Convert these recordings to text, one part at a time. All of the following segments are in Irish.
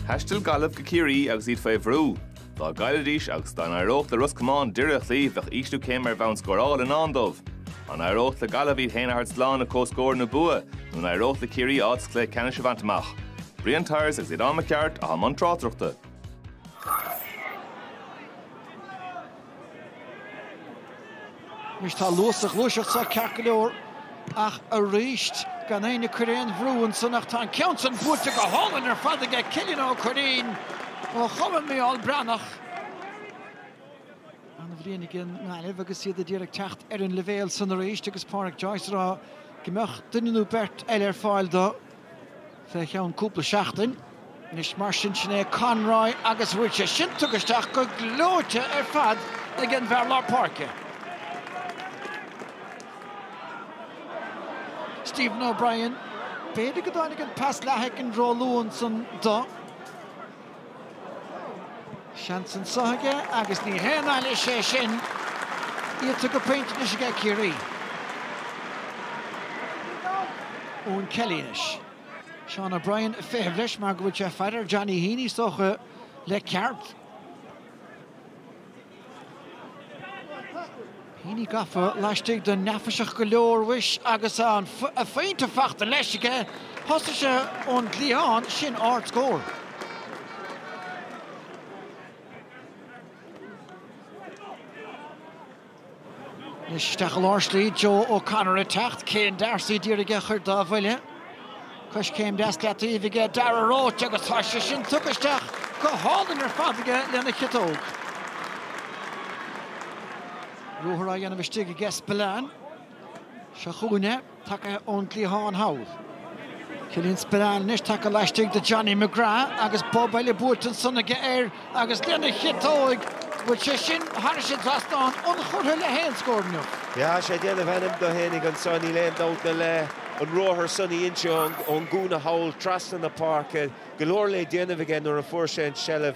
Thaistil Gaillimh go Ciarraí agus iad faoi bhrú. Dá gcaillfidís agus dá n-éireodh le Ros Comáin Doire a chloí bheadh ísliú céime ar bhonn scórála i ndán dóibh. An éireodh le Gaillimh iad féin a thabhairt slán le comhscór nó bua nó an éireodh le Ciarraí áit sa chluiche ceannais a bhaint amach? Brian Tyers agus Aodán Mac Gearailt atá i mbun tráchtaireachta. Anois tá luas sa ghluaiseacht seo ceart go leor ach arís gan éinne ag cur aon bhrú ansan ach tá an ceann san buailte go hálainn ar fad aige Cillian Ó Curraoin ó Chumann Mícheál Breathnach. Ana bhliain ag an nGaillimh agus iad díreach ag teacht ar an leibhéal san arís agus Pádraic Joyce á rá go mbeadh duine nó beirt eile ar fáil do fé cheann cúpla seachtain. Anois mar sin, sin é Conroy agus bhfuil sé sin tugtha isteach go gleoite ar fad ag an bhfear lár páirce, Stephen O'Brien. B'fhéidir go dtáinig an pas leath-shoicind ró-luath ansan do. Seans anso aige agus ní haon ailís é sin. Iad tugadh pointe anois aige Ciarraí. Eoghan Kelly anois. Seán O'Brien ag feitheamh leis mar go bhfuil sé faighte ar Johnny Heaney is dócha le ceart. Heaney gafa laistigh de, neafaiseach go leor, mhuis, agus ana-phointe fachta leis aige. Thosaigh sé ón gcliathán, sin ardscór. Anois isteach i lár slí, Joe O'Connor ag teacht, Céin D'Arcy, d'iarraidh é a chur dá bhuille. Coiscéim deas leataoibh aige Darragh Roche agus tá sé sin tugtha isteach go hálainn ar fad aige lena chiotóg. Ruathar á dhéanamh istigh aige Spillane. Seo chugainn é, tagtha ón gcliathán thall. Killian Spillane anois tagtha laistigh de Johnny McGrath agus bob eile buailte ansan aige air. Agus lena chiotóig, bhfuil sé sin thairis an dtrasnán ionchurtha le haon scór inniu? Yeah, tá sé ag déanamh ainm do fhéinig anseo, níl aon dabht ná le an ruathar san a inse ón gcúinne thall trasna na páirce. Go leor le déanamh aige nuair a fuair sé an seilbh.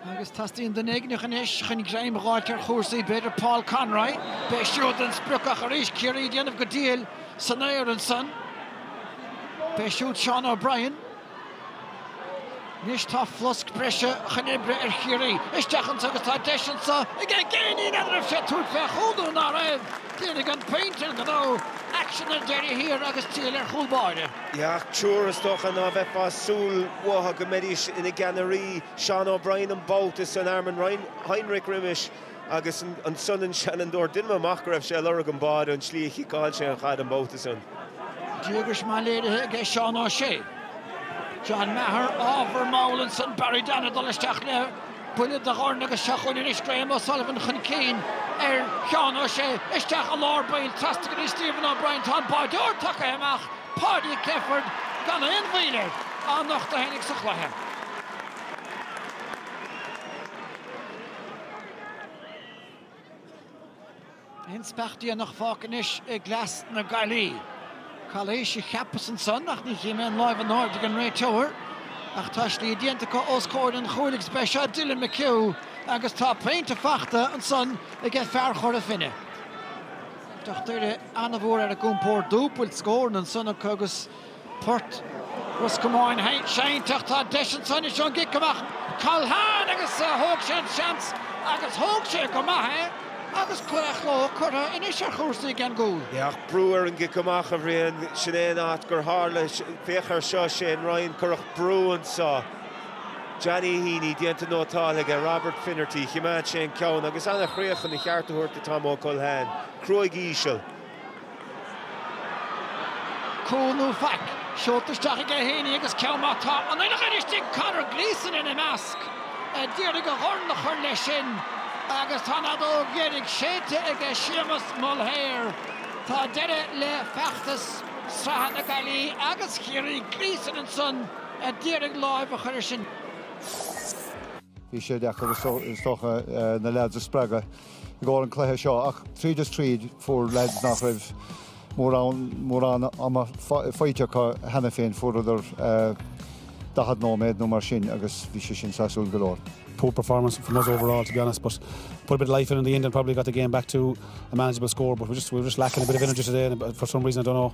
Agus teastaíonn duine éigineach anois chun greim dh'fháilt ar chúrsaí. B'fhéidir Paul Conroy. B'é siúd an sprioc ach arís Ciarraí ag déanamh go diail san aer ansan. B'é siúd Seán O'Brien. Anois tá flosc breise chun oibre ar Chiarraí isteach anseo agus tá deis anso aige Geaney, an raibh sé ag tabhairt fé chúl nó ná raibh. Déanfaidh an pointe an gnó, aicsean ar deireadh thiar agus triail ar chúl báire. Ach triúr is dócha ná beifeá ag súil uathu go mbeidís ina gceannairí. Seán O'Brien an babhta san Armin Heinrich roimis. Agus ansan an seanfhondúir. Deinim amach go raibh sé a' lorg an báide ón tslí a chiceáil sé an chaid an babhta san. Díograis maith léirithe aige Seán Ó Sé. John Maher, ábhar mall ansan Barry Dan a' dul isteach le buille de dhorn agus seo chugainn anois Graham O'Sullivan chun cinn ar Sheán Ó Sé. Isteach i lár baill trasna go dtí Stephen O'Brien. Tá an báideoir tagtha amach, Paudie Clifford, gan aon mhoill air. Anocht a tháinig sa chluiche. An speach déanach fágtha anois i gcleas na Gaillimhe. Calaois a cheapas ansan ach ní chím aon láimh in airde ag an réiteoir. Ach tá slí déanta acu ós comhair an chúil agus b'é seo Dylan McHugh agus tá pointe fachta ansan aige fear Chora Finne. Lucht Doire an-mhór ar a gcompórd dúbailt scóranna ansan acu agus Port Ros Comáin seinnte ach tá deis anso anois ón gcic amach. Culhane agus thóg sé an seans agus thóg sé go maith é agus claochló curtha anois ar chúrsaí ag an gcúl. Yeah, brú ar an gcic amach a Bhriain, sin é an áit gur tharla, féach air seo, Shane Ryan, cuireadh brú anso. Johnny Heaney déanta nótáil aige, Robert Finnerty, choimeád sé an ceann agus an-chríoch chun a cheart a thabhairt do Tomo Culhane, cruaidh íseal. Cúl nó faic? Seolta isteach aige Heaney agus ceann maith. Tá an uile dhuine istigh, Conor Gleeson ina measc, a d'iarraidh a dhorn a chur leis sin, agus tá an fheadóg dheiridh séidte aige Séamus Mulhare. Tá deireadh le feachtas sraithe na Gaillimhe agus Chiarraí. Gleeson ansan a d'iarraidh láimh a chur air sin. Bhí sé deacair, is dócha, na leaids a spreagadh. i gcomhair an chluiche seo ach tríd is tríd fuair leaids nach raibh mórán ama faighte acu cheana féin, fuaireadar 40 nóiméad nó mar sin agus bhí sé sin sásúil go leor. poor performance from us overall to be honest but put a bit of life in in the end and probably got the game back to a manageable score but we just we were just lacking a bit of energy today and for some reason I don't know